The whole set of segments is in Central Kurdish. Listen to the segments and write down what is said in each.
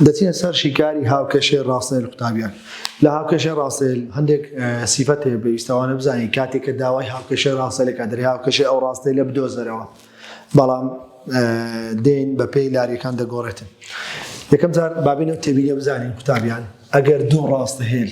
دەچینە سەر شیکاری هاوکێشەی ڕاسێل قوتابیان. لە هاوکێشەی ڕاسێل هەندێک سیفەت هەیە بێویستەوانە بزانین کاتێک کە داوای هاوکێشەی ڕاسێلێک کە دەرێ هاوکێشەی ئەو ڕاستێلە بدۆزەرەوە بەڵام دێین بە پێی لاریەکان دەگۆڕێتن یەکەم جار بابینەوە تێبینە بزانین قوتابیان ئەگەر دوو ڕاستە هێل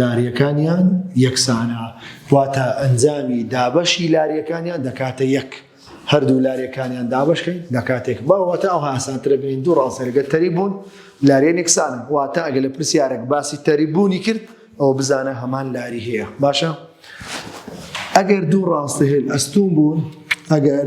لاریەکانیان یەکسانە واتە ئەنجامی دابەشی لاریەکانیان دەکاتە یەک هەردوو لاریەکانیان دابشکەین دەکاتێک باوەتە ئەو هاسانترە بین دوو ڕاستەرگە تەری بوون لاریێن یەکسانە واتە ئەگە لە پرسیارێک باسی تەری بوونی کرد ئەو بزانە هەمان لاری هەیە باشە ئەگەر دوو ڕاستە هێل ئەستون بوون ئەگەر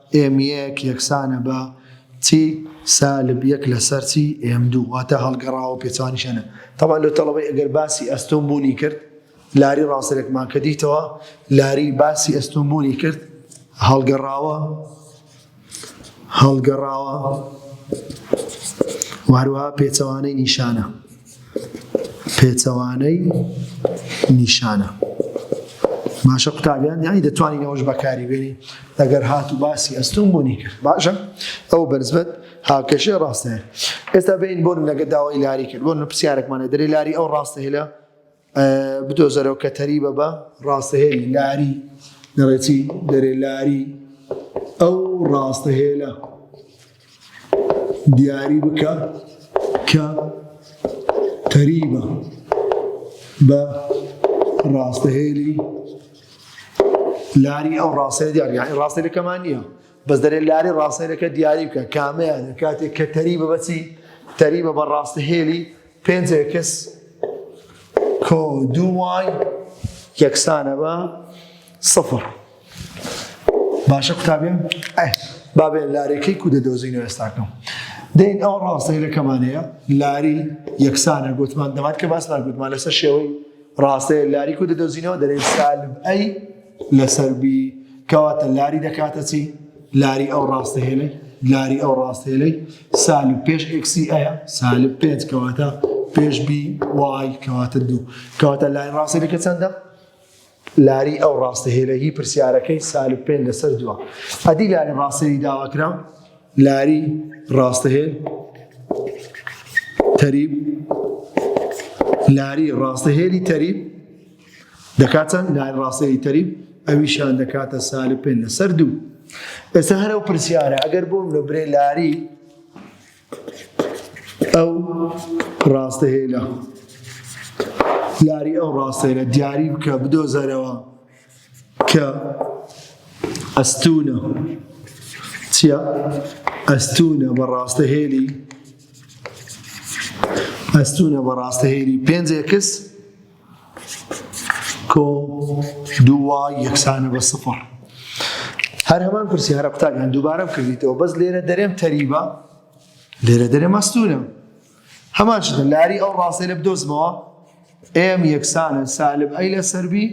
ئێم یەک یەکسانە بە تی سالب یەک لەسەر تی ئێم دوو واتە هەڵگەڕاوە پێچەوانیشانە تەبان لۆ تەڵەبەی ئەگەر باسی ئەستۆم بوونی کرد لاری ڕاستەرێکمان کە دیتەوە لاری باسی ئەستۆم بوونی کرد هەڵگەڕاوە هەڵگەڕاوە واروها پێچەوانەی نیشانە پێچەوانەی نیشانە. باشە قوتابیان یانی دەتوانین ئەوەش بەکاری بێنی ئەگەر هات و باسی ئەستون بوونی کرد باشە ئەو بەرزبەت هاکەشێ ڕاستەیە ئێستا بین بۆن لەگە داوای لاری کرد بۆن لە پرسیارێکمانە دەری لاری ئەو ڕاستە هێلە بدۆزەرەوە کە تەریبە بە ڕاستەهێلی لاری دەڵێتی دەرێ لاری ئەو ڕاستەهێلە دیاری بکە کە تەریبە بە ڕاستەهێلی لاری ئەو ڕاستە دیاری یعنی ڕاستە لەکەمان نییە بەس دەرێ لاری ڕاستەکە دیاری بکە کامەیان کاتێک کە تەریبە بەچی تەریبە بە ڕاستەهێلی پێنج ئێکس کۆ دوو وای یەکسانە بە سفر باشە قوتابیم ئەه بابێ لارێکەی کو دەدۆزینە ئێستاکەم دەین ئەو ڕاستەیرەکەمان هەیە لاری یەکسانە گوتمان دەمات کە باسمان گوتمان لەسەر شێوەی ڕاستەیە لاری کو دەدۆزینەوە دەرێن سالم ئەی لەسەر بی کەواتە لاری دەکاتە چی لاری ئەو ڕاستە هێلەی لاری ئەو ڕاستە هێلەی سالب پێش ئکسی ئەیە سالب پێنج کەواتە پێش بی وای کەواتە دوو کەواتە لاری ڕاستە دەکە چەندە لاری ئەو ڕاستە هێلەی پرسیارەکەی سالب پێنج لەسەر دووە ئەدی لاری ڕاستەی داواکرا لاری ڕاستە هێل تەریب لاری ڕاستە هێلی تەریب دەکاتە نایل ڕاسێلی تەریب ئەویشان دەکاتە سالب پێ لەسەر دوو ئێستا هەرە و پرسیارە ئەگەر بۆم لە برێ لاری ئەو ڕاستە هێلە لاری ئەو ڕاستەیە دیاری بکە بدۆزەرەوە کە ئەستونە چیە ئەستونە بە ڕاستە هێلی ئەستونە بە ڕاستە هێلی پێنجێکس کۆ دوو وای یەکسانە بە سفر هەر هەمان پرسیارە قوتابیان دووبارەم کردیتەوە بەس لێرە دەرێم تەریبە لێرە دەرێ مەستورم هەمان شتە لاری ئەو ڕاستە لە بدۆزمەوە ئێم یەکسانە سالب ئەی لە سەربی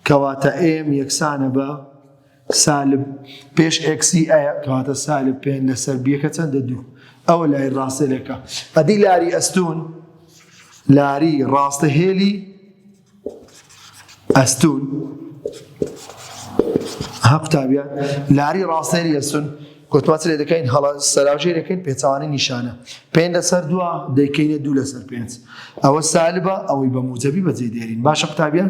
کەواتە ئێم یەکسانە بە سالب پێش ئێکسی ئەیە کەواتە سالب پێنج لەسەر بیەکە چەندە دوو ئەوە لای ڕاستێلەکە ئەدی لاری ئەستون لاری ڕاستە هێلی ئەستون ها قوتابیان لاری ڕاستێری ئەستون گوتمات لێ دەکەین هەڵە سەراژێ دەکەین پێچوانی نیشانە پێنج لەسەر دووە دەیکەینە دوو لەسەر پێنج ئەوە سالبە ئەوەی بە موجەبی بەجێ دێرین باشە قوتابیان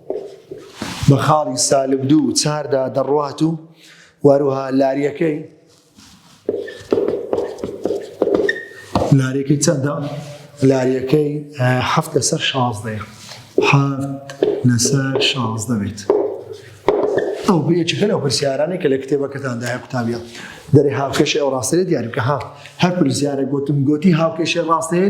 بە خاڵی سالب دوو و چاردا دەڕوات و واروها لاریەکەی لاریەکەی چەندە لاریەکەی هەفت لەسەر شازدەیە هەفت لەسەر شازدە بێت ئەو بێچەکە لەو پرسیارانەی کە لە کتێبەکەتاندا هەیە قوتابە دەرێ هاوکێشی ئەو ڕاستەیە دیارکە ها هەر پرسیارە گوتم گوتی هاوکێشی ڕاستەیە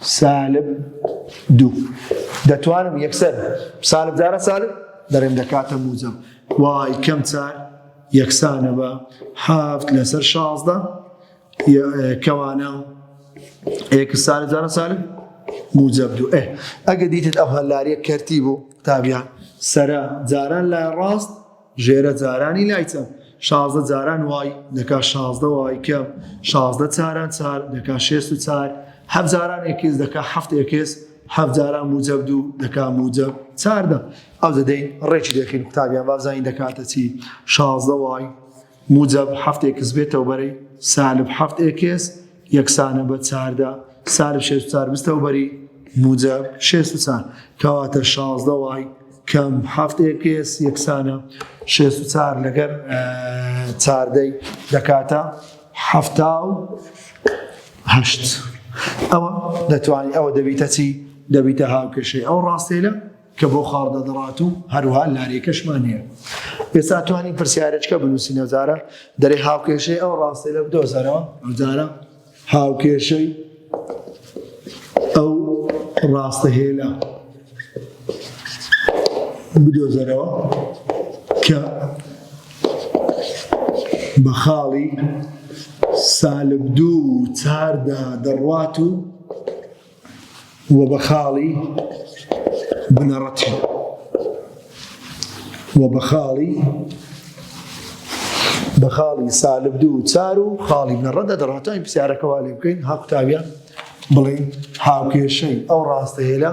سالب دوو دەتوانم یەکسەر سالب جارە سالب دەرێن دەکاتە موجب وای کەم چار یەکسانە بە هەفت لەسەر شازدە کەوانە ئێکس سالب جارە سالب موجب دوو ئێ ئەگە دیتت ئەو هەلاریە کەرتی بوو تابیان سرە جاران لای ڕاست ژێرە جارانی لای چەپ شازدە جاران وای دەکا شازدە وای کەم شازدە چاران چار دەکا شێست و چار حەف جاران ئێکس دەکا حەفت ئێکس حەف جاران موجەب دوو دەکا موجەب چاردە ئەو دەدەین ڕێکی دەخین قوتابیان بابزانین دەکاتە چی شازدە وای موجەب حەفت ئێکس بێتەوە بەرەی سالب حەفت ئێکس یەکسانە بە چاردا سالب شێست و چار بستەوە بەری موجەب شێست و چار کەواتە شازدە وای کەم حەفت ئێکس یەکسانە شێست و چار لەگەر چاردەی دەکاتە حەفتا و هەشت ئەوە دەتوانانی ئەوە دەبیتە چی دەبیتە هاوکێشەی ئەو ڕاستێلە کە بۆ خاڵ دەدڕات و هەروها لارێکەشمان هەیە ئێستا توانی پرسیارێکە بنووسی نەزارە دەرێ هاوکێشەی ئەو ڕاستەی لە بدۆزەرەوە ئەوجارە هاوکێشەی ئەو ڕاستە هێلا بدۆزەرەوە کە بە خاڵی سالب دوو چاردا دەڕوات و و بە خاڵی بنەڕەتی و بە خاڵی بە خاڵی سالب دوو چار و خاڵی بنەڕەتدا دەڕاتانی پرسیارەکەوا لێ بکەین هاکوتاویان بڵێن هاوکێشەی ئەو ڕاستەیە لە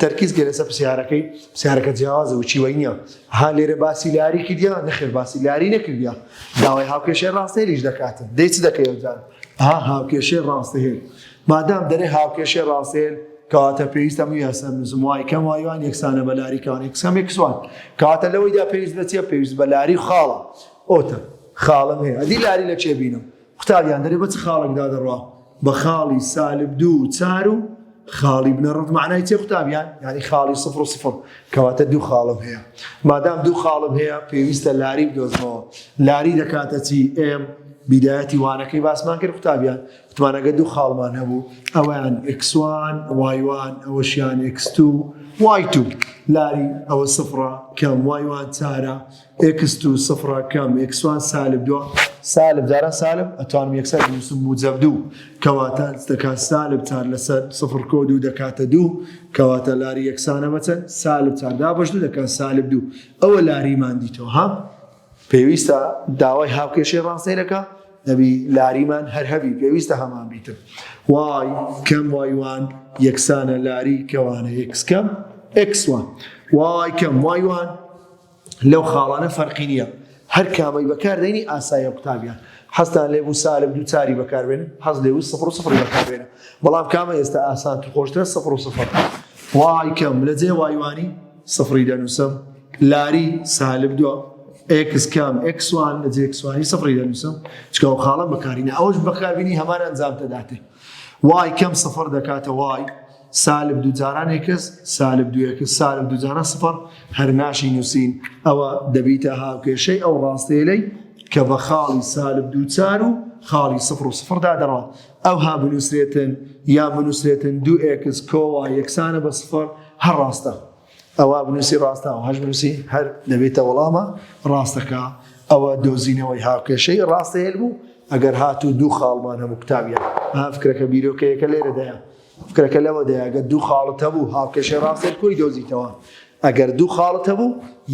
تەرکیز گەێ لەسەر پرسیارەکەی پرسیارەکە جیاوازە وچی وای نییە ها لێرە باسی لاری کردیا نەخێر باسی لاری نەکردیا داوای هاوکێشێ ڕاستێریش دەکاتن دەیچ دەکەوجان ها هاوکێشێ ڕاستەهێن مادام دەێ هاوکێشێ ڕاستێن کەواتە پێویستە من یاسەر نزم وای کەم وایوان یەکسانە بە لاری کانی قسەمێک کسوان کەواتە لەوەیدا پێویست بە چیە پێویست بە لاری خاڵە ئۆتە خاڵم هەیە ئەدی لاری لە چێ بینم قوتابیان دەرێ بە چ خاڵێکدا دەڕوا بە خاڵی سالب دوو و چار و خاڵی بنەڕەت معنای چێ قوتابیان یعنی خاڵی سفر و سفر کەواتە دوو خاڵم هەیە مادام دوو خاڵم هەیە پێویستە لاری بدۆزمەوە لاری دەکاتە چی ئێم بیدایەتی وانەکەی باسمان کرد قوتابیان وتمانەگە دوو خاڵمان هەبوو ئەویان ئکسوان وایوان ئەوەشیان ئکسستو وای تو لاری ئەوە سفرە کەم وایوان چارە ئێکس تو سفرە کەم ئێکس وان سالب دو سالب جاران سالب ئەتوانم یەکسەر بنووسم موجەب دوو کەواتە دەکات سالب چار لەسەر سفر کۆ دوو دەکاتە دوو کەواتە لاری یەکسانە بەچەند سالب چار دابەش دوو دەکات سالب دوو ئەوە لاریمان دیتەوە ها پێویستە داوای هاوکێشەی ڕاستەیلەکە نەبی لاریمان هەر هەبی پێویستە هەمان بیتر وای کەم وایوان یەکسانە لاری کەوانە یەکسکەم ئەکسوان وای کەم وایوان لەو خاڵانە فەرقی نییە هەر کامەی بەکاردێنی ئاسایە قوتابیان حەزتان لێ بوو سالب دوو چاری بەکاربێن حەز لێ بوو سفر و سفر بەکاربێنە بەڵام کامە ئێستا ئاسان تو خۆشترە سفر و سفر وای کەم لە جێ وایوانی سفری دەنووسم لاری سالب دووە ئکس کام ئکسوان لە جێکسوانی سفری دەنووسم چکە و خاڵم بەکارینە ئەوش بەکاربینی هەمان ئەنجام دەداتێ وای کەم سفر دەکاتە وای سالب دوو جاران ئێکس سالب دوو ئێکس سالب دوو جاران سفر هەر ناشی نووسین ئەوە دەبیتە هاوکێشەی ئەو ڕاستێلەی کە بە خاڵی سالب دوو چار و خاڵی سفر و سفردا دەڕات ئەو ها بنووسێتن یا بنووسێتن دوو ئێکس کۆوا یەکسانە بە سفر هەر ڕاستە ئەوە بنووسی ڕاستە و هەش بنووسی هەر دەبێتە وەڵامە ڕاستەکە ئەوە دۆزینەوەی هاوکێشەی ڕاستەیل بوو ئەگەر هاتوو دوو خاڵمان هەموو قوتابیان هافکرەکە بیرۆکەیەەکە لێرەدایە فکرەکە لەوەدایە گەر دوو خاڵت هەبوو هاوکێشەی ڕاستت کۆی دۆزیتەوە ئەگەر دوو خاڵت هەبوو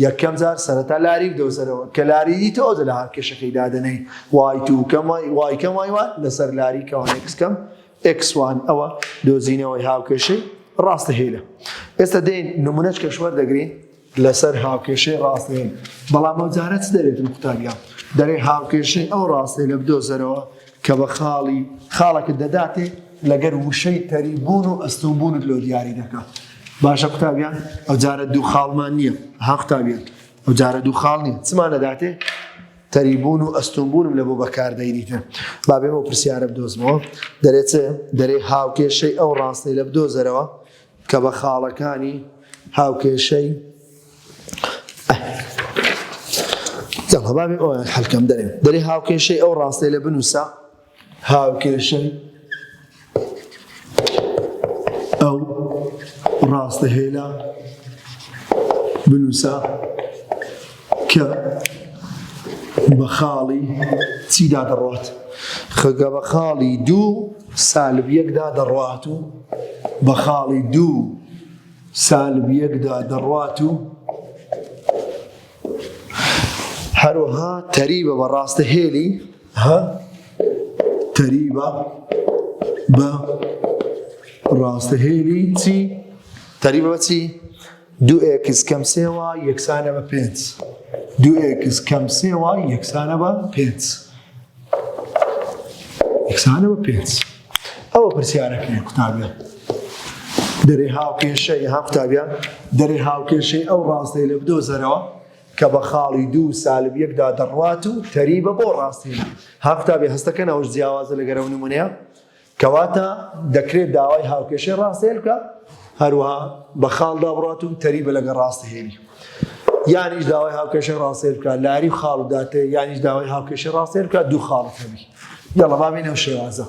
یەکەم جار سەرەتا لاری بدۆزەرەوە کە لاری دیتەوە دە لە هاکێشەکەی دادەنەی وای تو کەم وای کەم وای وان لەسەر لاری کەوان ئێکس کەم ئێکس وان ئەوە دۆزینەوەی هاوکێشەی ڕاستە هێلە ئێستا دێن نمونەچ کەشوەر دەگرین لەسەر هاوکێشەی ڕاستەیین، بەڵام ئەو جارە چ دەرێتن قوتابیان؟ دەرێ هاوکێشەی ئەو ڕاستەیە لە بدۆزەرەوە کە بە خاڵی خاڵەکت دەداتێ لەگەر وشەی تەری بوون و ئەستوون بوونت لۆ دیاری دەکا. باشە قوتابیان ئەو جارە دوو خاڵمان نییە ها قوتابیان ئەو جارە دوو خاڵ نییە چمان دەداتێ تەری بوون و ئەستوون بوونم لە بۆ بەکاردەینیتە با بێمە پرسیارە بدۆزمەوە دەرێ چ دەرێ هاوکێشەی ئەو ڕاستەی لە بدۆزەرەوە کە بە خاڵەکانی هاوکێشەی یاڵا بابێ ئەویان حەلکەم دەرێ دەرێ هاوکێشەی ئەو ڕاستێ لە بنووسە هاوکێشەی ئەو ڕاستە هێلا بنووسە کە بە خاڵی چیدا دەڕوات خەگە بە خاڵی دوو سالب یەکدا دەڕوات و بە خاڵی دوو سالب یەکدا دەڕوات و هەروەها تەریبە بە ڕاستە هێلی ها تەریبە بە ڕاستە هێلی چی تەریبە بە چی دوو ئێکس کەم سێ وای یەکسانە بە پێنج. دوو ئێکس کەم سێ وای یەکسانە بە پێنج. یەکسانە بە پێنج. ئەوە پرسیارەکەی قوتابیان. دەرێ هاوکێشەی ها قوتابیان دەرێ هاوکێشەی ئەو ڕاستەی لە بدۆزەرەوە کە بە خاڵی دوو سالب یەکدا دەڕوات و تەریبە بۆ ڕاستیە ها قوتابی هەستەکەن ئەوش جیاوازە لەگەرەو نمونەیە کەواتە دەکرێت داوای هاوکێشەی ڕاستەیل بکا هەروەها بە خاڵ دابڕات و تەری بە لەگە ڕاستەهێنی یانیش داوای هاوکێشە ڕاستێ بکە لاری خاڵ داتێ یانیش داوای هاوکێشە ڕاستێ بکە دوو خاڵت هەبی یاڵە بابین ئەو شێوازە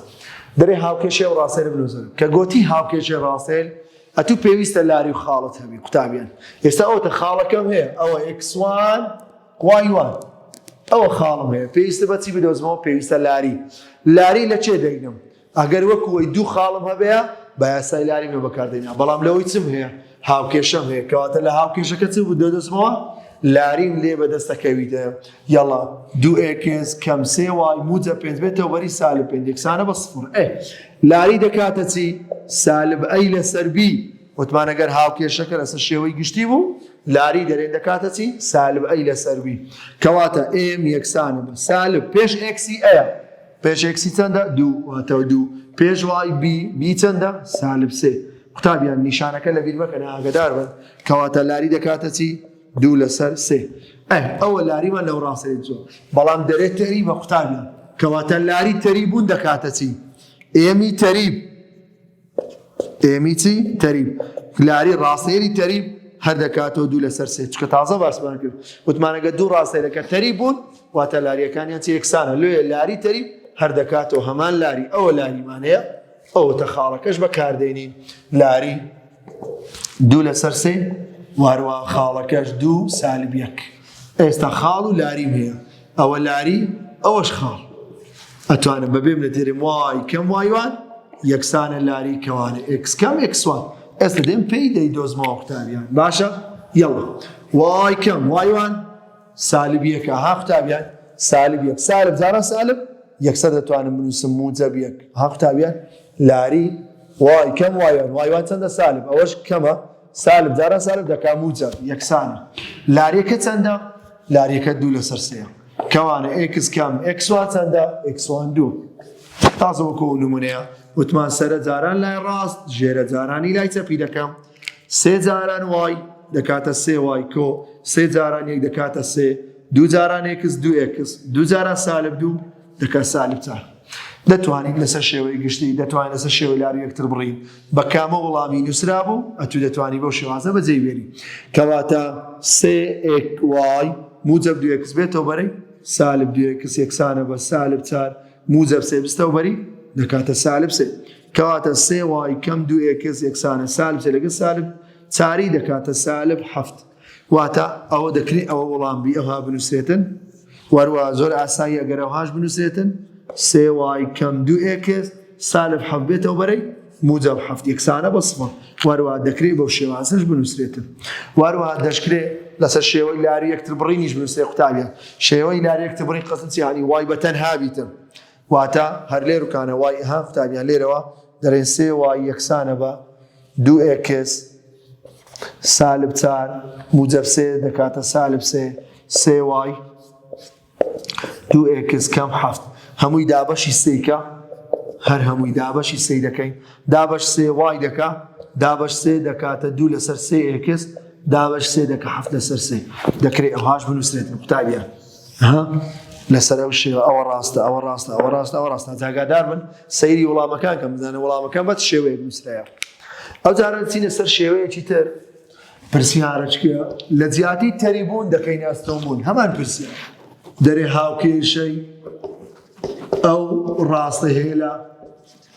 دەێ هاوکێشێ و ڕاستێ بلوزن کە گوتی هاوکێشێ ڕاستێل ئەتوو پێویستە لاری و خاڵت هەبی قوتابیان ئێستا ئەوتە خاڵەکەم هەیە ئەوە ئەکسوان وای وای ئەوە خاڵم هەیە پێویستە بەچی بدۆزمەوە پێویستە لاری لاری لە چێ دەینم ئەگەر وەکوەی دوو خاڵم هەبەیە بە یاسای لاری مە بەکاردەینا بەڵام لەوەی چم هەیە هاوکێشەم هەیە کەواتە لە هاوکێشەکە چ بدۆدەزمەوە لاریم لێ بەدەستەکەویدە یاڵا دوو ئێکس کەم سێ وای موجە پێ بێتەوە بەری سالب پێ یەکسانە بە سفر ئێ لاری دەکاتە چی سالب ئەی لەسەر بی وتمان گەر هاوکێشەکە لەسەر شێوەی گشتی بوو لاری دەرێن دەکاتە چی؟ سالب ئەی لەسەر وی کەواتە ئێم یەکسانە بە سالب پێش ئێکسی ئەیە پێش ئێکسی چەندە دوو واتە دوو پێش وای بی بی چەندە سالب سێ قوتابیان نیشانەکە لە بیرمەکە ئاگدار بن کەواتە لاری دەکاتە چی؟ دوو لەسەر سێ ئەوە لاریمان لەو ڕاستێ جۆ بەڵام دەرێت تەری بە قوتابیان کەواتە لاری تەری بوون دەکاتە چی؟ ئێمی تەریب ئێمی چی؟ تەریب. لاری ڕاستەیەری تەریب هەر دەکاتەوە دوو لەسەر سێ چکە تازە باسمان کرد وتمانەگە دوو ڕاستەیەەکە تەری بوون واتە لاریەکانیان چ یەکسانە لێ لاری تەری هەر دەکاتەوە هەمان لاری ئەوە لاریمانەیە ئەوەتە خاڵەکەش بەکاردێنین لاری دوو لەسەر سێ واروا خاڵەکەش دوو سالب یەک ئێستا خاڵ و لاریم هەیە ئەوە لاری ئەوەش خاڵ ئەتوانم بە بێم لە تێرم وای کەم وایوان یەکسانە لاری کەوانە ئکس کەم ئکسوان ئێستا دێم پێی دەی دۆزمەوە قوتابیان باشە یڵە وای کەم وایوان سالبیەکە ها قوتابیان سالب یەک سالب زارە سالب یەکسە دەتوانم بنووسم موجە بیەک ها قوتابیان لاری وای کەم وایوان وایوان چەندە سالب ئەوەش کەمە سالب جاران سالب دەکا موجەب یەکسانە لاریەکە چەندە لاریەکە دوو لەسەر سێە کەوانە ئکس کەم ئکسوان چەندە ئکسوان دوو تازە وەکو نمونەیە وتمان سەرە جاران لای ڕاست ژێرە جارانی لای چەپی دەکەم سێ جاران وای دەکاتە سێ وای کۆ سێ جاران یەک دەکاتە سێ دوو جاران ئکس دوو ئکس دوو جاران سالب دوو دەکەن سالبتە دەتوانین لەسەر شێوەی گشتی دەتوانین لەسەر شێوە لار یەکتر بڕین بە کامە وڵامی نووسرا بوو ئەتو دەتوانی بەو شێوازە بەجێ بێنی کەواتە سێکوای موجب دوێکس بێتەوە بەرەی سالب دوێکس یەکسانە بە سالب چار موجب سێ بستەوە بەری دەکاتە سالب سێ کەواتە سێ وای کەم دوو ئێکس یەکسانە سالب سێ لەگە سالب چاری دەکاتە سالب هەفت واتە ئەوە دەکرێ ئەوە وەڵام بی ئەوها بنووسێتن وەروە زۆر ئاسایی ئەگەر ئەوهاش بنووسێتن سێ وای کەم دوو ئێکس سالب حەفت بێتەوە بەرەی موجب حەفت یەکسانە بە سفر وەروە دەکرێ بەو شێوازش بنووسێتن وەروە دەشکرێ لەسەر شێوەی لاری یەکتر بڕینیش بنووسێ قوتابیان شێوەی لاری یەکتر بڕین قەسم چیانی وای بەتەن هابیتن واتە هەر لێروکانە وای ئه قوتابیان لێرەوە دەرێن سێ وای یەکسانە بە دوو ئێکس سالب چار موجب سێ دەکاتە سالب سێ سێ وای دوو ئێکس کەم حەفت هەمووی دابەشی سیکە هەر هەمووی دابەشی سی دەکەین دابش سێ وای دەکا دابش سێ دەکاتە دوو لەسەر سێ ئێکس دابش سێ دەکە هەفت لەسەر سێ دەکرێت ئەوهاش بنووسێت قوتابیان ها لەسەر ئەو شێوە ئەوە ڕاستە ئەوە ڕاستە ئەوە ڕاستە ئەوە ڕاستە جاگادار من سەیری وڵامەکان کەم بزانە وڵامەکان بەت شێوەیە نووسراە ئەو جاران چینە سەر شێوەیەکی تر پرسیارچکە لە جیاتی تەریبوون دەکەی ناستەوبوون هەمان پرسی دەرێ هاوکێشەی ئەو ڕاستە هێلا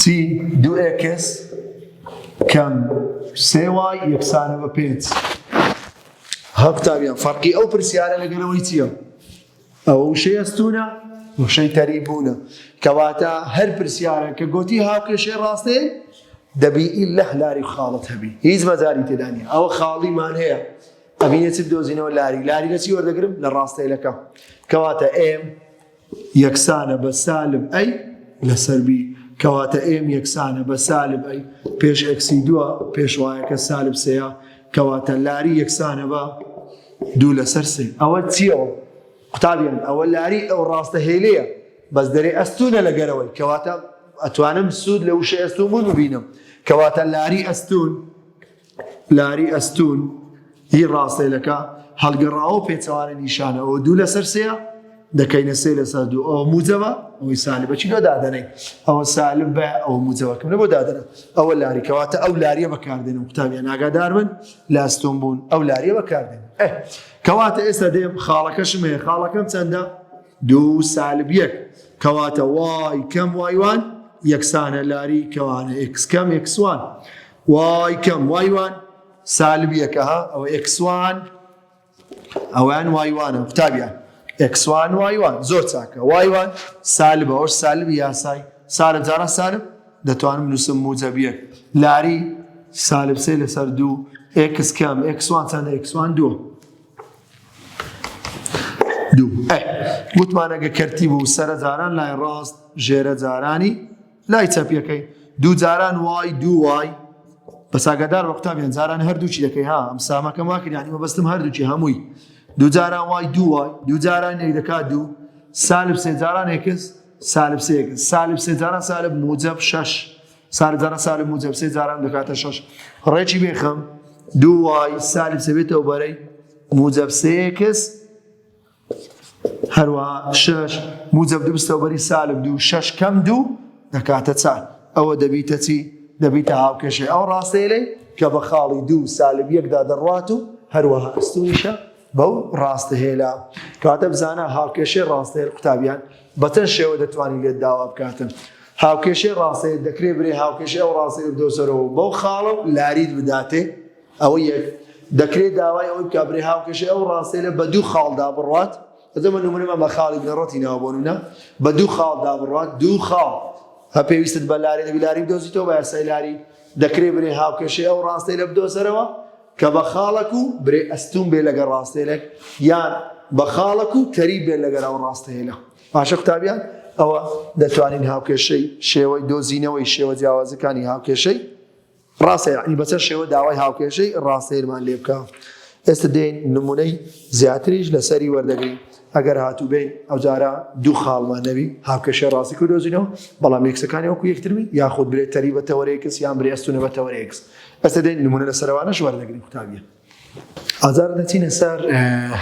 چی دوو ئێکس کەم سێ وای یەکسانە بە پێنج ها قوتابیان فەرقی ئەو پرسیارە لەگەرەوەی چییە ئەوە وشەی ئەستونە وشەی تەری بوونە کەواتە هەر پرسیارە کە گوتی هاوکێشێ ڕاستێ دەبی لە لاری خاڵت هەبی هیچ مەجاری تێدانی ئەوە خاڵیمان هەیە ئەمینێت دۆزینەوە لاری لاری لەچی وەردەگرم لە ڕاستەیلەکە کەواتە ئێم یەکسانە بە سالب ئەی لەسەر بی. کەواتە ئێم یەکسانە بە سالب ئەی پێش ئێکسی دووە، پێشوایەکە سالب سێیە، کەواتە لاری یەکسانە بە دوو لەسەر سێ. ئەوە چیەوە؟ قوتابیان ئەوە لاری ئەو ڕاستە هێلەیە، بەس دەرێ ئەستوونە لە گەرەوەی، کەواتە ئەتوانم سوود لە وشەی ئەستوون بوون ببینم، کەواتە لاری ئەستوون لاری ئەستوون ی ڕاستەیلەکە هەڵگەڕاوەو پێچەوانەی نیشانە ئەوە دوو لەسەر سێیە دەکەینە سێ لەسەر دوو ئەوە موجەوە ئەوەی سالبە چی لۆ دادەنەی ئەوە سالب بە ئەوە موجەوەکەم لە بۆ دادەنە ئەوە لاریکەواتە ئەو لاریە بەکاردێن و قوتابیان ئاگادار بن لە ئەستۆن بوون ئەو لاریە بەکاردێن کەواتە ئێستا دێم خاڵەکەشم هەیە خاڵەکەم چەندە دوو سالب یەک کەواتە وای کەم وایوان یەکسانە لاری کەوانە ئکس کەم ئکسوان وای کەم وای وان سالب یەکە ها ئەوە ئێکس وان ئەویان وای وانە قوتابیان ئێکس وان وای وان زۆر چاکە وای وان سالب ئەوش سالبی یاسای سالب جارا سالب دەتوانم نووسم موجەبیەک لاری سالب سێ لەسەر دوو ئێکس کەم ئێکس وان چەندە ئێکس وان دووە دوو گوتمانەگە کەرتی بوو سەرە جاران لای ڕاست ژێرە جارانی لای چەپیەکەی دوو جاران وای دوو وای بەس ئاگادار بە قوتابیان جاران هەردووچی دەکەی ها ئەم سامەکەم وا کردیانی مەبەستم هەردووچی هەمووی دوو جاران وای دوو وای دوو جاران یەک دەکات دوو سالب سێ جاران یەکس سالب سێ یەکس سالب سێ جاران سالب موجب شەش سالب جاران سالب موجب سێ جاران دەکاتە شەش ڕێکی بێخەم دوو وای سالب سێ بێتەوە بەرەی موجب سێ یەکس هەروەها شەش موجب دوو بستەوبەری سالب دوو شەش کەم دوو دەکاتە چار ئەوە دەبیتە چی دەبیتە هاوکێشەی ئەو ڕاستەیەی کە بە خاڵی دوو سالب یەکدا دەڕوات و هەروەها ئەستویشە بەو ڕاستە هێلا کاتە بزانە هاوکێشەی ڕاستەیە قوتابیان بەچەند شێوە دەتوانین لێت داوا بکاتن هاوکێشەی ڕاستەیە دەکرێت برێ هاوکێشەی ئەو ڕاستەیە بدۆسەرەوە بەو خاڵە و لاریت بداتێ ئەوە یەک، دەکرێت داوای ئەوەی بکات برێ هاوکێشەی ئەو ڕاستێنە بە دوو خاڵ دابڕوات، ئەجا من نمونەمان بە خاڵی بنەڕەتی ناوە بۆ نمونە، بە دوو خاڵ دابڕوات، دوو خاڵ، هە پێویستت بە لاری دەبی لاری بدۆزیتەوە بە یاسای لاری، دەکرێت برێ هاوکێشەی ئەو ڕاستێنە بدۆزەرەوە کە بە خاڵەک و برێ ئەستوون بێت لەگەر ڕاستێنەک یان بە خاڵەک و تەریب بێت لەگەر ئەو ڕاستێنە. باشە قوتابیان ئەوە دەتوانین هاوکێشەی شێوەی دۆزینەوەی شێوە جیاوازەکانی هاوکێشەی ڕاستە یەعنی بەچەند شێوە داوای هاوکێشەی ڕاستەیرمان لێ بکە ئێستە دێین نمونەی زیاتریش لەسەری وەردەگرین ئەگەر هاتووبین ئەوجارە دوو خاڵمان نەوی هاوکێشە ڕاستی کو دۆزینەوە بەڵام یەکسەکانی وەکو یەکترمی یاخود برێتەری بەتەوەرێکس یان برێستونە بەتەوەرێکس ئەسە دێن نمونە لە سەروانەش وەردەگرین قوتابیە ئازاد نەچینە سەر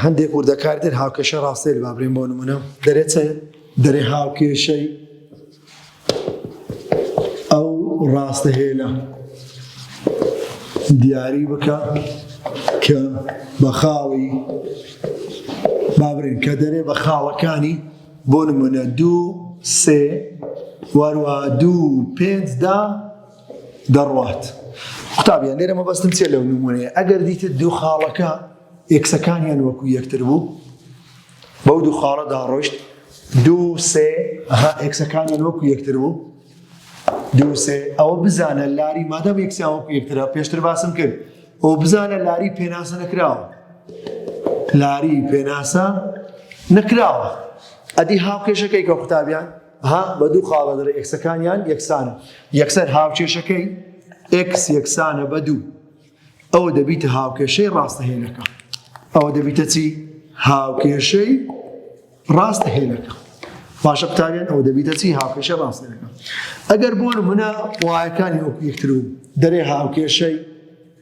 هەندێک وردەکاری تر هاوکێشە ڕاستەیل با بڵێم بۆ نمونە دەرێ چ دەرێ هاوکێشەی ئەو ڕاستە هێلە دیاری بکە کە بە خاڵی بابرێن کە دەرێ بە خاڵەکانی بۆ نمونە دوو سێ وەروە دوو پێنجدا دەڕوات قوتابیان لێرە مەبەستم چێ لەو نمونەیە ئەگەر دیتت دوو خاڵەکە ئێکسەکانیان وەکو یەکتر بوو بەو دوو خاڵەدا ڕۆشت دوو سێ ئەها ئێکسەکانیان وەکو یەکتر بوو دوو سێ ئەوە بزانە لاری مادەم یەکسیان وەکو یەکترا پێشتر باسم کرد ئەو بزانە لاری پێناسە نەکراوە لاری پێناسە نەکراوە ئەدی هاوکێشەکەی کە قوتابیان ها بە دوو خاڵە دەرە ئێکسەکانیان یەکسانە یەکسەر هاوکێشەکەی ئێکس یەکسانە بە دوو ئەوە دەبیتە هاوکێشەی ڕاستەهێنەکە ئەوە دەبیتە چی هاوکێشەی ڕاستەهێنەکە باشە قوتابیان ئەو دەبیتە چی هاوکێشە ڕاستەکە ئەگەر بۆ منە وایەکانی وەکو یەکتر و دەرێ هاوکێشەی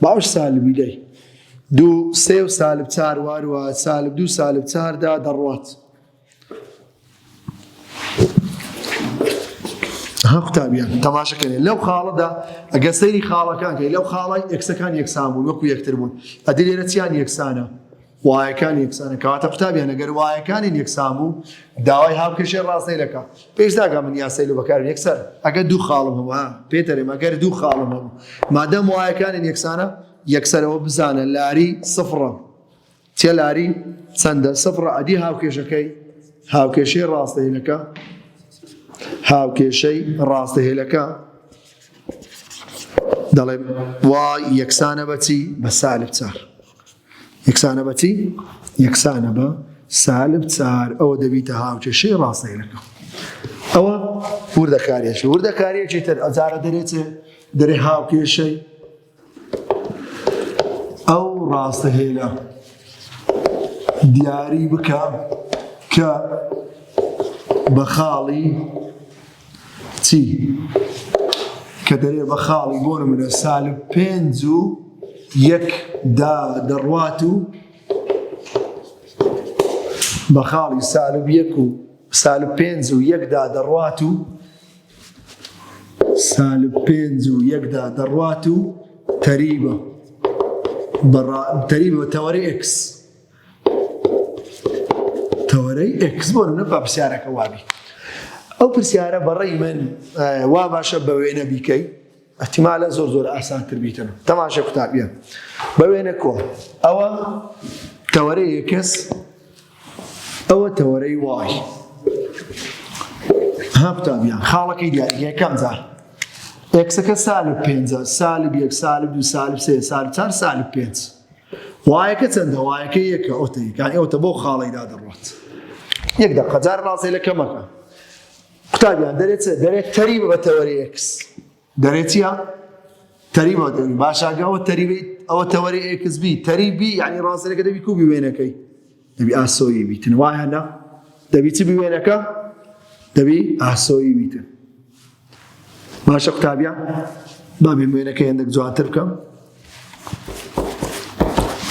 باوش سالمی لەی دوو سێ و سالب چار واروە سالب دوو سالب چاردا دەڕوات ها قوتابیان تەماشەکەێ لەو خاڵەدا ئەگە سەیری خاڵەکان کە لەو خاڵی ئەکسەکان یەکسان بوون وەکو یەکتر بوون ئەدی لێرە چیان یەکسانە وایەکان یەکسانن کەواتە قوتابیان ئەگەر وایەکانین یەکسان بوو داوای هاوکێشەی ڕاستەی دەکا پێش داگا من یاسای لە بەکارم یەکسەر ئەگەر دوو خاڵم هەوە پێتەرێم ئەگەر دوو خاڵم هەبوو مادەم وایەکانین یەکسانە یەکسەرەوە بزانە لاری سفڕە چێ لاری چەندە سفڕە ئەدی هاوکێشەکەی هاوکێشەی ڕاستەهێنەکە هاوکێشەی ڕاستەهێلەکە دەڵێ وا یەکسانە بەچی بە سالب چار یەکسانە بە چی؟ یەکسانە بە سالب چار ئەوە دەبیتە هاوکێشەی ڕاستەیەکە ئەوە وردەکارێکی وردەکارێکی تر ئەجارە دەرێتێ دەرێ هاوکێشەی ئەو ڕاستە هێلە دیاری بکە کە بە خاڵی چی کە دەرێ بە خاڵی بۆ نمونە سالب پێنج و یەک دا دەڕوات و بە خاڵی سالب یەک و سالب پێنج و یەکدا دەڕوات و سالب پێنج و یەکدا دەڕوات و تەریبە تەریبە تەوەری ئکس تەوەرەی ئێکس بۆ نمونە با پرسیارەکە وابی ئەو پرسیارە بەڕێی من وا باشە بە وێنە بیکەی ئەتیمالە زۆر زۆر ئاسانتر بیتن تەماشە قوتابیە بە وێنە کۆ ئەوە تەوەرەی ئێکس ئەوە تەوەرەی وای ها قوتابیان خاڵەکەی دیاری یەکەم جار ئێکسەکە سالب پێ سالب یەک سالب دو سالب سێ سالب چار سالب پێنج وایەکە چەندە وایەکە یەکە ئەوتە یەکانی ئەوتە بۆ خاڵیدا دەڕات یەک دە قەجار ڕاستێ لە کەمەکە قوتابیان دەرێت دەرێت تەری بە تەوەرێکس دەرێتە تەری بە دەوی باشاگەەوە تەریبیت ئەوە تەوەری ئێکس بی تەریبی ینی ڕاستەکە دەبی کوبی وێنەکەی دەبی ئاسۆیی بیتن وایە نا دەبی چ بوێنەکە دەبی ئاسۆیی بیتن باشە قوتابیا بابێ موێنەکە هێندێک جوانتر بکەم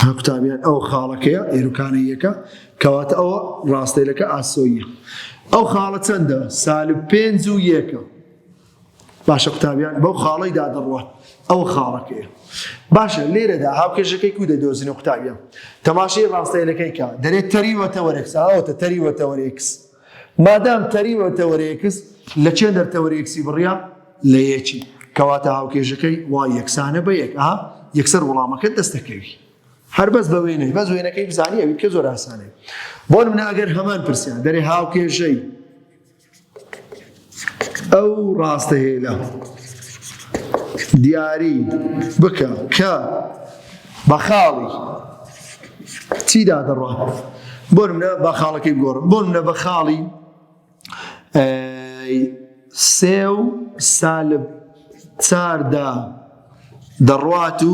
ها قوتابیان ئەو خاڵەکەیە ئێروکانەیەکە کەواتە ئەوە ڕاستەیلەکە ئاسۆیە ئەو خاڵە چەندە سالب پێنج و یەکە باشە قوتابیان بەو خاڵەی دا دەڕوە ئەوە خاڵەکەیە باشە لێرەدا هاوکێشەکەی کو دەدۆزینە قوتابیان تەماشی ڕاستەیلەکەی کا دەرێت تەری وەتەوەرێکس ئەوتە تەری وەتەوەرێکس مادام تەری وەتەوەرێکس لە چێن دەرتەوەرێکسی بڕیا لە یەکی کەواتە هاوکێشەکەی وا یەکسانە بە یەک ئا یەکسەر وڵامەکە دەستەکەوی هەر بەس بە وێنێ بەس وێنەکەی بزانانی ئەوی کە زۆر ئاسانێ بۆ منە ئەگەر هەمان پرسیان دەرێ هاوکێژەی ئەو ڕاستهێنە دیاری بکە کە بە خاڵی چیدا دەڕوا بۆ منە بە خاڵەکەی گۆڕم بۆ منە بە خاڵی سێ و سالب چاردا دەڕوات و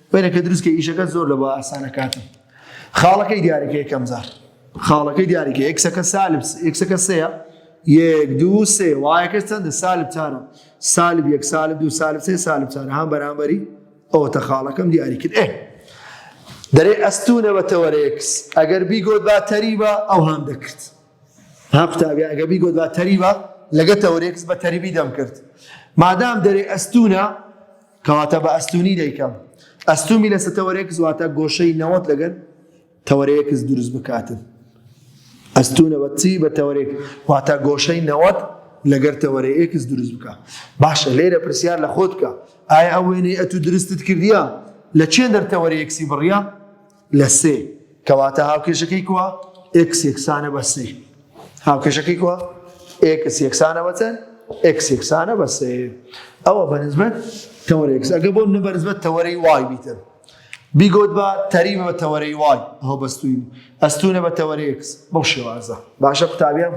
وێنەکە دروست کە ئیشەکە زۆر لە بە ئاسانە کاتم خاڵەکەی دیارەکە یەکەم جار خاڵەکەی دیارەکە یەکسەکە سالب یەکسەکە سەیە یەک دوو سێ وایەکە چەندە سالب چارە سالب یەک سالب دوو سالب سێ سالب چارە هەم بەرامبەری ئەوە تە خاڵەکەم دیاری کرد ئێ دەرێ ئەستونە بە تەوەرەیەکس ئەگەر بیگۆت با تەریبە ئەو هەم دەکرد ها قوتابی ئەگە بیگۆت با تەریبە لەگە تەوەرەیەکس بە تەریبی دەم کرد مادام دەرێ ئەستونە کەواتە بە ئەستوونی دەیکەم. ئەستوومی لەسە تەوەرێکس واتە گۆشەی نەوەت لەگەر تەوەرەیەکس دروست بکاتن. ئەستوونە بە چی بە تەوەرێک واتە گۆشەی نەوەت لەگەر تەوەرە ئێکس دروست بکە. باشە لێرە پرسیار لە خۆت بکە. ئایا ئەو وێنەی ئەتوو درستت کردیە لە چێندەر تەوەرێکسی بڕیە؟ لە سێ، کەواتە هاوکێشەکەی کوا؟ ئێکس یەکسانە بە سێ. هاوکێشەکەی کوا؟ ئێکس یەکسانە بە چەند؟ ئێکس یەکسانە بە سێ. ئەوە بە نسبەت تەوەرەی ئێکس. ئەگەر بۆ منە بە نسبەت تەوەرەی وای بیتن. بیگۆت بە تەریبە بە تەوەرەی وای. ئەوە بەستوین. ئەستونە بە تەوەرەی ئێکس. بەو شێوازە. باشە قوتابیان؟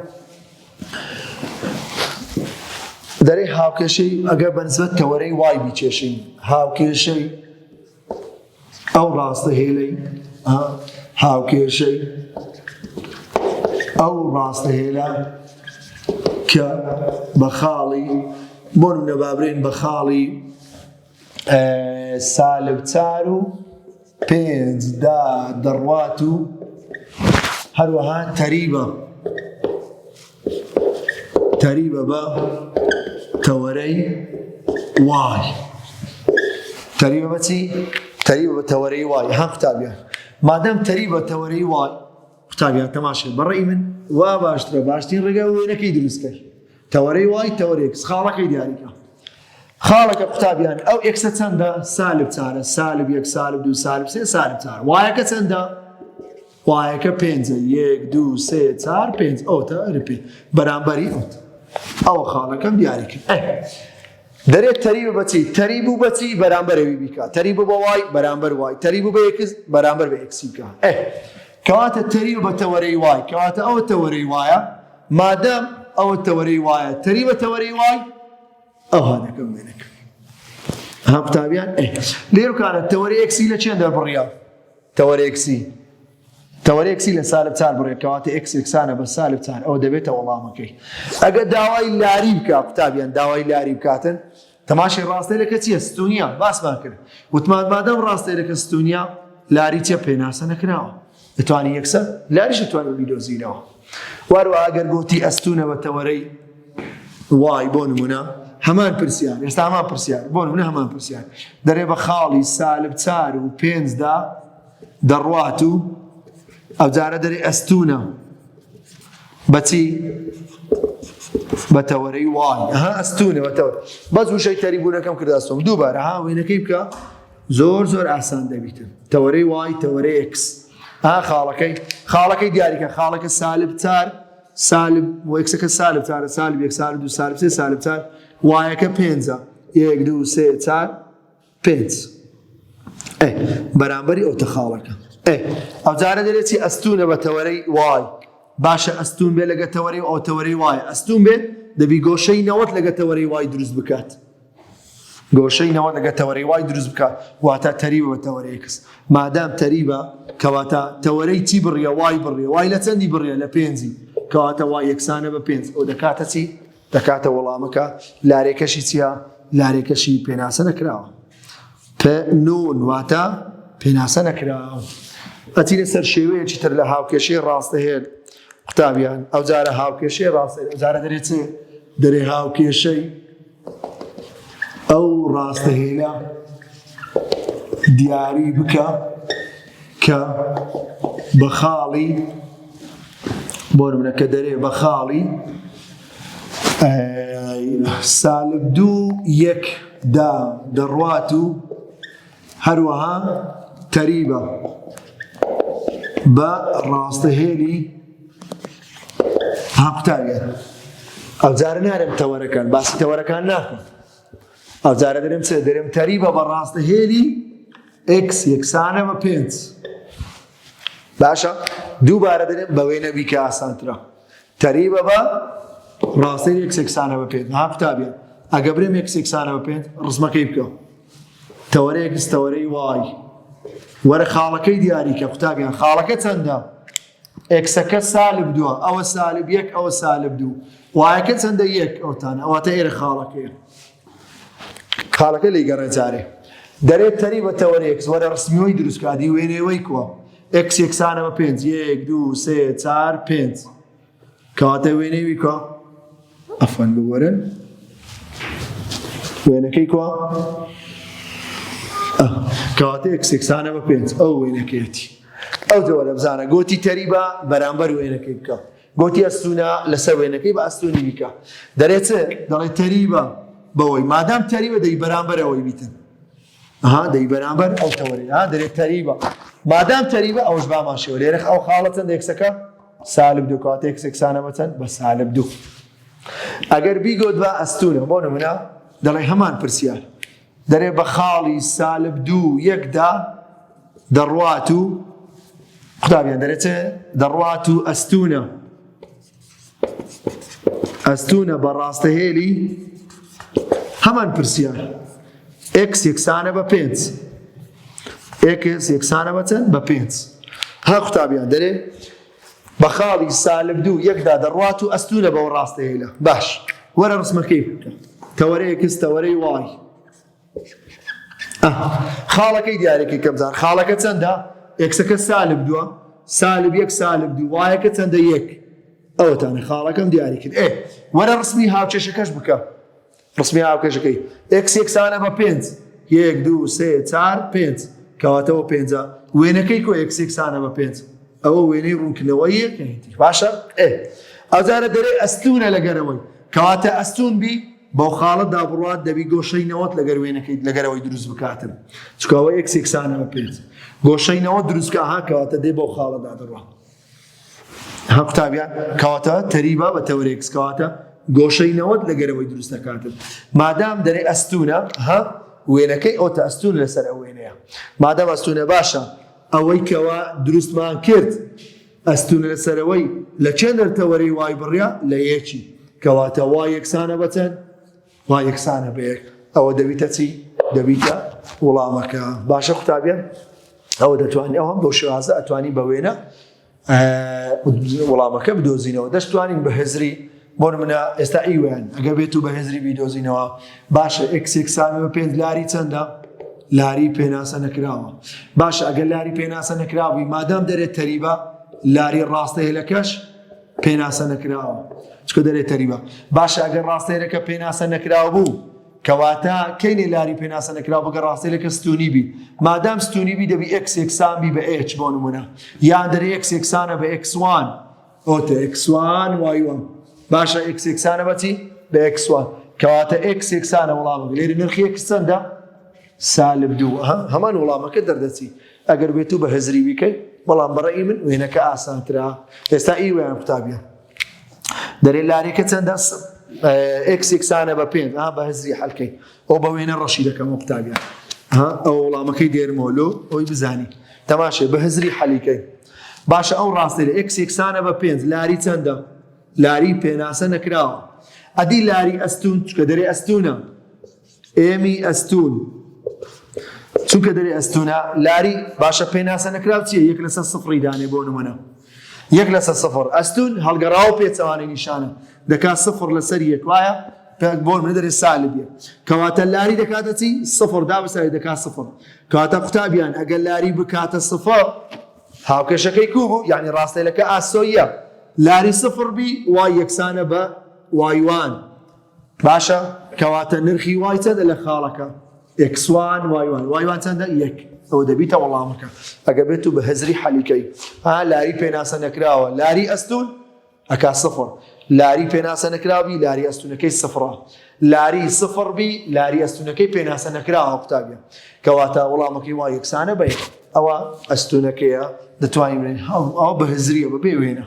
دەرێ هاوکێشەی ئەگەر بە نسبەت تەوەرەی وای بیکێشین. هاوکێشەی ئەو ڕاستە هێلەی هاوکێشەی ئەو ڕاستە هێلە کە بە خاڵی بۆ نەبابرێن بە خاڵی سالب چار و پێنج دا دەڕوات و هەروەها تەریبە تەریبە بە تەوەرەی وای تەریبە بە چی؟ تەریبە بە تەوەرەی وای ها قوتابیان مادەم تەری بە تەوەرەی وای قوتابیان تەماشێ بەڕێی من وا باشترە باشترین ڕێگا وێنەکەی دروستکەی تەوەرەی وای تەوەرێک خاڵەکەی دیاریکە خاڵەکە قوتابیان ئەو ئەکسە چەندە سالب چارە سالب یەک سالب دو سالب سێ سالب چار وایەکە چەندە؟ وایەکە پێنجە یەک دوو سێ چار پێنج ئەوتە ئەرپی بەرامبەری ئەوت ئەوە خاڵەکەم دیاری کرد دەرێت تەری بەچی تەری بوو بەچی بەرامبەرەوی بیکە تەری بوو بە وای بەرامبەر وای تەری بوو بە یەکس بەرامبەر بە ئەکسی بکە کەواتە تەری بە تەوەرەی وای کەواتە ئەوە تەوەرەی وایە مادەم ئەوە تەوەرەی وایە تەری بە تەوەرەی وای ئەوها دەکەم وێنەکە ها قوتابیان لێرکانە تەوەری ئەکسی لە چێن دەربڕیا تەوەرێکسی تەوەرێکسی لە سالب چار بڕێکەواتە ئەکسێکسانە بە سالب چار ئەو دەبێتە وەڵامەکەی ئەگە داوای لاری بکە قوتابیان داوای لاری بکاتن تەماشی ڕاستەرەکە چیە ستونیا باسمان کرد وتمان بادەم ڕاستەرەکە ستونیا لاری چە پێناسە نەکراوە دەتوانی یەکسەر لاریش دەتوانانی بیدۆزینەوە واروە ئەگەر گوتی ئەستونە بە تەوەرەی وای بۆ نمونە هەمان پرسیار ئێستا هەمان پرسیار بۆ نمونە هەمان پرسیار دەرێ بە خاڵی سالب چار و پێنجدا دەڕوات و ئەو جارە دەرێ ئەستونە بەچی بە تەوەرەی وان ها ئەستونە بەتەوە بەس وشەی تەریبوونەکەم کرداستم دووبارە ها وێنەکەی بکە زۆر زۆر ئاسان دەبیتن تەوەرەی وای تەوەرەی ئکس ها خاڵەکەی خاڵەکەی دیاریکە خاڵەکە سالب چار سالب وەکسەکە سالب چارە سالب یەک سال دو سالب سێ سالب چار وایەکە پێنجە یەک دوو سێ چار پێنج بەرامبەری ئەو تەخاڵەکە ئەو جارە دەرێتی ئەستونە بە تەوەرەی وای باشە ئەستون بێ لەگە تەوەری ئەو تەوەری وایە ئەستون بێت دەبی گۆشەی نەوەت لەگە تەوەری وای دروست بکات گۆشەی نەوە لەگە تەوەرەی وای دروست بکە واتە تەریبە بە تەوەرەی کەس مادام تەریبە کەواتە تەوەرەی چی بڕیە وای بڕێ وای لە چەندی بڕیە لە پێنجی کەواتە وای یەکسانە بە پێنج ئەو دەکاتە چی دەکاتە وەڵامەکە لارێکەشی چییە لارێکەشی پێناسە نەکراوە نون واتە پێناسە نەکراوە ئەتی لەسەر شێوەیەکی تر لە هاوکێشی ڕاستەهێن قوتابیان ئەو جارە هاوکێشی ڕاستە جارە دەرێت دەرێ هاوکێشەی ئەو ڕاستە هێنە دیاری بکە کە بە خاڵی بۆ منە کە دەرێ بە خاڵی سالب دوو یەک دا دەڕوات و هەروەها تەریبە بە ڕاستەهێلی هەقوتانە ئەوجارە نارم تەوەرەکان باسی تەوەرەکان ناکەم ئەوجارە دەرم چێ دەرم تەریبە بە ڕاستەهێلی ئکس یەکسانە بە پێنج باشە دووبارە دەرم بەوەی نەبی کە ئاسانترە تەریبە بە ڕاستەی یەکسێکسانە بە پێنج ها قوتابیان ئەگە برێم یەکسێکسانە بە پێنج ڕزمەکەی بکەم تەوەرەیەک ستەوەرەی وای وەرە خاڵەکەی دیاریکە قوتابیان خاڵەکە چەندە ئەکسەکە سالب دووە ئەوە سالب یەک ئەوە سالب دوو وایەکە چەندە یەک ئەوتانە ئەوەتە ئێرە خاڵەکەیە خاڵەکە لی گەڕێ جارێ دەرێت تەری بە تەوەرێک وەرە ڕسمیەوەی دروستکادی وێنێەوەی کووە ئەکس یەکسانەوە پێنج یەک دوو سێ چار پێنج کەواتە وێنەی وی کوا ئەفەن بوەرن وێنەکەی کوا کەواتە یەکسێکسانە بە پێنج ئەو وێنەکەیەتی ئەو جەوە لە بزانە گۆتی تەریبە بەرامبەر وێنەکەی بکە گۆتی ئەستونە لەسەر وێنەکەی بە ئەستونی بیکە دەرێت دەڵێت تەریبە بەوەی مادام تەریبە دەی بەرامبەرەوەی بیتن ها دەی بەرامبەر ئەو تەوەری ها دەرێ تەریبە مادام تەریبە ئەوش بامان شێوە لێرە ئەو خاڵە چەند ئێکسەکە سالب دوو کاتە ئێکسەکسانە بەچەند بە سالب دوو ئەگەر بیگۆت بە ئەستونە بۆ نمونە دەڵێ هەمان پرسیار دەرێ بە خاڵی سالب دوو یەکدا دەڕوات و قوتابیان دەرێتێ دەڕوات و ئەستونە ئەستوونە بە ڕاستەهێلی هەمان پرسیار ئێکس یەکسانە بە پێنج ئێکس یەکسانە بە چەند بە پێنج ها قوتابیان دەرێ بە خاڵی سالب دوو یەکدا دەڕات و ئەستوونە بەەوە ڕاستەهێلە باش وەرە ڕسمەکەی تەوەرەیەکس تەوەرەی وای خاڵەکەی دیارەکەی کە بزان خاڵەکە چەندە ئێکسەکە سالب دووە سالب یەک سالب دوو وایەکە چەندە یەک ئەوەتانە خاڵەکەم دیاری کرد ئێ وەرە ڕسمی هاوکێشەکەش بکە ڕسمی هاوکێشەکەی ئێکس یەکسانە بە پێنج یەک دوو سێ چار پێنج کەواتەوە پێنجە وێنەکەی کۆ ئێکس یەکسانە بە پێنج ئەوە وێنەی ڕوونکردنەوە یەکەیتی باشە ئێ ئەوجارە دەرێ ئەستونە لەگەرەوەی کەواتە ئەستون بی بەو خاڵە دا بڕوات دەبی گۆشەی نەوەت لەگەر وێنەکەیت لەگەر ئەوەی دروست بکاتن چکە ئەوە یەک سێکسانەوە پێت گۆشەی نەوە دروستکە ها کەواتە دێ بەو خاڵە دا دەڕوات ها قوتابیان کەواتە تەریبا بە تەورێکس کەواتە گۆشەی نەوەت لەگەرەوەی دروست دەکاتن مادام دەرێ ئەستونە ها وێنەکەی ئەوتە ئەستون لەسەر ئەو وێنەیە مادام ئەستونە باشە ئەوەی کەوا دروستمان کرد ئەستوونە لە سەرەوەی لە چەند نەرتەوەرەی وای بڕیا لە یەکی کەواتە وا یەکسانە بەچەند وا یەکسانە بە یەک ئەوە دەبیتە چی دەبیتە وڵامەکە باشە قوتابیان ئەوە دەتوانین ئەوم بۆ شێوازە ئەتوانی بە وێنە وڵامەکە بدۆزینەوە دەشتوانین بە هزری بۆ نمونە ئێستا ئیوێن ئەگە بێت و بە هێزری بیدۆزینەوە باشە ئەکسێکسانەوە بە پێنج لاری چەندە لاری پێناسە نەکراوە باشە ئەگە لاری پێناسە نەکراوی مادام دەرێت تەریبە لاری ڕاستە هێلەکەش پێناسە نەکراوە چکە دەرێت تەریبە باشە ئەگەر ڕاستەیەەکە پێناسە نەکراو بوو کەواتە کەینێ لاری پێناسە نەکرا بگە ڕاستەیەەکە ستونی بی مادام ستونی بی دەبی ئەکسێکسان بی بە ئێچ بۆ نمونە یان دەرێ ئەکسێکسانە بە ئەکسوان ئەوەتە ئێکس وان وای وان باشە ئێکس ئێکسانە بەچی بە ئێکس وان کەواتە ئێکس ئێکسانە وڵامە لێری نرخی ئێکس چەندە سالب دوو هەمان وڵامەکە دەردەچی ئەگەر بێت و بە هزری بیکەی بەڵام بەڕێی من وێنەکە ئاسانترا ئێستا ئی ویان قوتابە دەرێ لارێکە چەندە ئێکسێکسانە بە پێ بە هزری حلکەی ئەو بە وێنە ڕەشی دەکەمەوە قوتابیان ها ئەو وڵامەکەی دێرمەوە لۆ ئەوی بزانی تەماشێ بە هزری حەلیکەی باشە ئەو ڕاستێ ئەکس یەکسانە بە پێنج لاری چەندە لاری پێناسە نەکراوە ئەدی لاری ئەستون چکە دەرێ ئەستونە ئێمی ئەستون چونکە دەرێ ئەستونە لاری باشە پێناسە نەکراو چیە یەک لەسەر سفری دانێ بۆ نمونە یەک لەسەر سفر ئەستون هەڵگەڕاوە پێچەوانەی نیشانە دەکات سفر لەسەر یەک وایە پێک بۆر منە دەرێ سالب یەک کەواتە لاری دەکاتە چی سفر دابساری دەکات سفر کەواتە قوتابیان ئەگەر لاری بکاتە سفر هاوکێشەکەی کو بوو یعنی ڕاستەیلەکە ئاسۆیە لاری سفر بی وای یەکسانە بە وایوان باشە کەواتە نرخی وای چەندە لە خاڵەکە ئکسوان وایوان وایوان چەندە یەک ئەو دەبیتە وەڵامەکە ئەگە بێت و بە هزری حەلیکەی ها لاری پێناسە نەکراوە لاری ئەستون ئەکا سفر لاری پێناسە نەکراوی لاری ئەستونەکەی سفرە لاری سفر بی لاری ئەستونەکەی پێناسە نەکراوە قوتابە کەواتە وەڵامەکەی وا یەکسانە بێت ئەوە ئەستونەکەیە دەتوانین ئەو بە هزریە بە بێ وێنە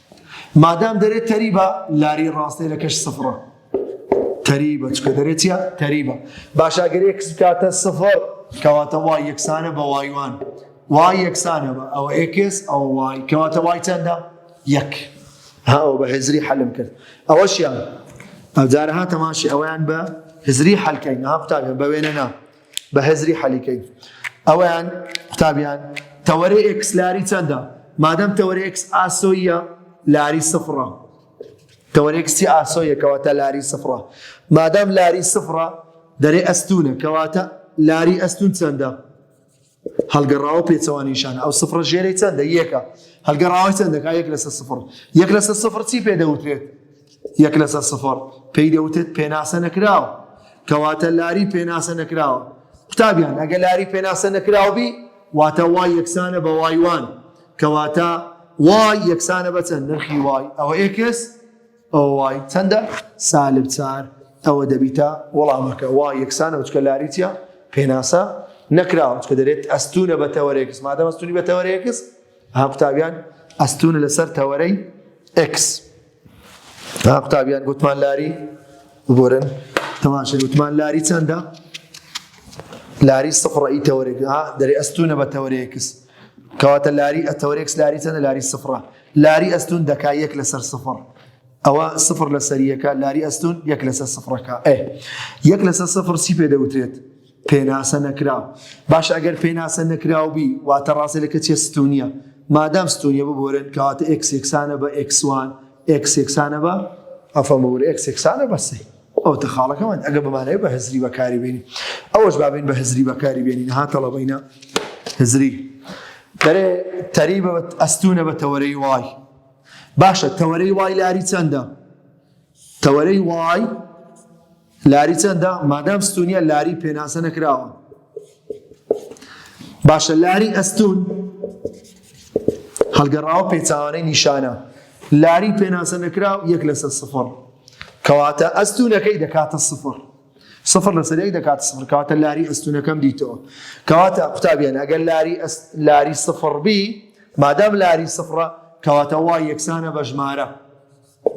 مادام دەرێت تەریبە لاری ڕاستێنەکەش سفڕە تەریبە چکە دەرێت چیە تەریبە باشاگەر ئێکس بکاتە سفر کەواتە وای یەکسانە بە وایوان وای یەکسانە بە ئەوە ئێکس ئەو وای کەواتە وای چەندە یەک هاو بە هزری حەلم کرد ئەوەشیان ئەوجارە هاتەماشی ئەویان بە هزری حەلکەین ها قوتابیان بە وێنە نا بە هزری حەلیکەی ئەویان قوتابیان تەوەرەی ئێکس لاری چەندە مادەم تەوەرەی ئێکس ئاسۆیە لاری سفڕە تەوەرێکسی ئاسۆیە کەواتە لاری سفڕە مادام لاری سفڕە دەرێ ئەستونە کەواتە لاری ئەستون چەندە هەڵگەڕاوە پێچەوانەی شانە، ئەو سفرە ژێرەی چەندە؟ یەکە. هەڵگەڕاوەی چەند دەکات؟ یەک لەسەر سفر. یەک لەسەر سفر چی پێ دەوترێت؟ یەک لەسەر سفر پێی دەوترێت پێناسە نەکراو. کەواتە لاری پێناسە نەکراوە. قوتابیان ئەگە لاری پێناسە نەکراو بی واتە وای یەکسانە بە وای وان کەواتە وای یەکسانە بە چەند نرخی وای ئەوە ئێکس ئۆای چەندە؟ سالب چار ئەوە دەبیتە وەڵامەکە وا یەکسانە بچکە لاری چیە پێناسە نەکراوە چکە دەرێت ئەستونە بە تەوەرێکس مادەم ئەستونی بە تەوەرێکس ها قوتابیان ئەستونە لەسەر تەوەرەی ئکس ها قوتابیان گوتمان لاری بگۆرن تەماشە گوتمان لاری چەندە لاری سفڕی تەوەرێک ها دەرێ ئەستونە بە تەوەرێکس کەواتە لاری ئەتەوەرێکس لاری چەندە لاری سفرە لاری ئەستوون دەکا یەک لەسەر سفڕ ئەوە سفر لە سەریەکە لاری ئەستون یەک لەسەر سفرەکە ئێ یەک لەسەر سفر سی پێ دەوترێت پێناسە نەکراو باش ئەگەر پێناسە نەکراو بی واتە ڕاستە لەکە چێ ستونیە مادام ستونیە ببورن کەواتە ئەکسێکسانە بە ئەکسوان ئەکسێکسانە بە ئەفەڵور ئەکسێکسانە بەسێ ئەوەتە خاڵەکەمان ئەگە بەمانەوە بە هزری بەکاری بێنی ئەوەش بابین بە هزری بەکاری بێنین ها تەڵەبەینە هزری دەرێ تەریبە ئەستونە بە تەوەرەی وای باشە تەوەرەی وای لاری چەندە تەوەرەی وای لاری چەندە مادام ستونیە لاری پێناسە نەکراوە باشە لاری ئەستوون هەڵگەڕاوە پێچاوانەی نیشانە لاری پێناسە نەکراو یەک لەسەر سفر کەواتە ئەستونەکەی دەکاتە سفر سفر لەسەر یەک دەکاتە سفر کەواتە لاری ئەستونەکەم دیتەوە کەواتە قوتابیان ئەگەر لاری لاری سفر بی مادام لاری سفرە کەواتە وا یەکسانە بە ژمارە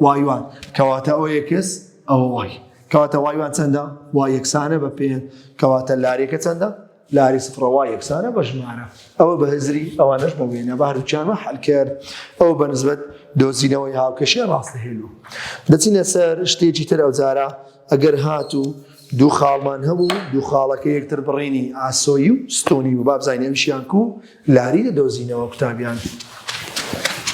وای وان کەواتە ئەوە یەکس ئەوە وای کەواتە وای وان چەندە وا یەکسانە بە پێ کەواتە لارێکە چەندە لاری سفرە وای یەکسانە بە ژمارە ئەوە بە هزری ئەوانش بە وێنە بەهروچیانمە حلکرد ئەو بە نسبەت دۆزینەوەی هاوکەشێ ڕاستە هێلو دەچینە سەر شتێکی تر ئەو جارە ئەگەر هات و دوو خاڵمان هەبوو دوو خاڵەکە یەکتر بڕینی ئاسۆی و ستۆنی و بابزانینەویشیان کو لاری لە دۆزینەوە قوتابیان